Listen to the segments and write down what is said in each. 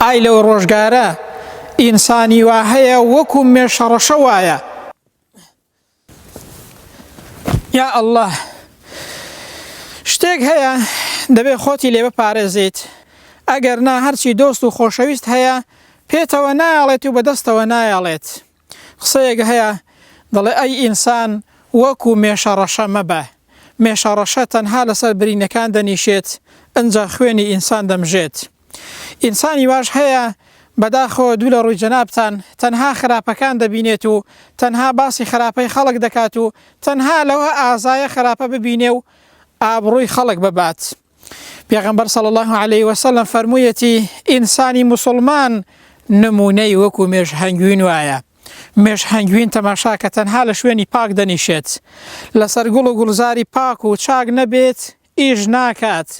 ئای لەو ڕۆژگارە ئینسانی وا هەیە وەکو مێشە ڕەشە وایە یا اللە شتێک هەیە دەبێ خۆتی لێ بپارێزیت ئەگەر نا هەرچی دۆست و خۆشەویست هەیە پێتەوە نایەڵێت و بەدەستەوە نایەڵێت قسەیەک هەیە دەڵێ ئەی ئینسان وەکو مێشە ڕەشە مەبە، مێشە ڕەشە تەنها لەسەر برینەکان دەنیشێت ئنجا خوێنی ئینسان دەمژێت. ئینسانی واش هەیە بەداخەوە دوو لە ڕووی جەنابتان تەنها خراپەکان دەبینێت و تەنها باسی خراپەی خەڵک دەکات و تەنها لەوە ئازایە خراپە ببینێ و ئابڕووی خەڵک ببات. پێغەمبەر صلی الله علیه و سلم فەرموویەتی ئینسانی موسڵمان نمونەی وەکو مێش هەنگوین وایە مێش هەنگوین تەماشا کە تەنها لە شوێنی پاک دەنیشێت لەسەر گوڵ و گوڵزاری پاک و چاک نەبێت ئیش ناکات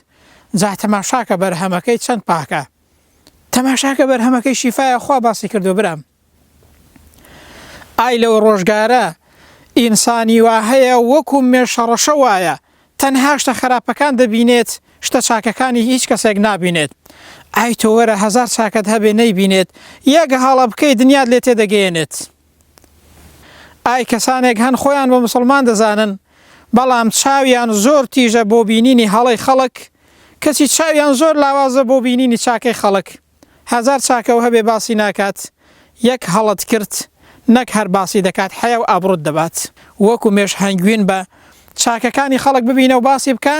جا تەماشاکە بەرهەمەکەی چەند پاکە تەماشاکە بەرهەمەکەی شیفاە خوا باسی کردو برام ئای لەو ڕۆژگارە ئینسانی وا هەیە وەکو مێشەڕەشە وایە تەنها شتە خەراپەکان دەبینێت شتە چاکەکانی هیچ کەسێک نابینێت ئای تۆ وەرە هەزار چاکەت هەبێ نەیبینێت یەک هەڵە بکەی دنیات لێ تێدەگەیەنێت ئای کەسانێک هەن خۆیان بە مسلمان دەزانن بەڵام چاویان زۆر تیژە بۆ بینینی هەڵی خەڵک کەچی چاویان زۆر لاوازە بۆ بینینی چاکەی خەڵک هەزار چاکەو هەبێ باسی ناکات یەک هەڵەت کرد نەک هەر باسی دەکات حەیاو ئابڕوت دەبات وەکو مێش هەنگوین بە چاکەکانی خەڵک ببینەو باسی بکە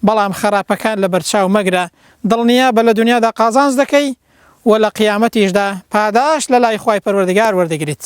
بەڵام خەراپەکان لەبەرچاو مەگرە دڵنیابە لە دونیادا قازانج دەکەی و لە قیامەتیشدا پاداشت لەلای خوای پەروەردگار وەردەگریت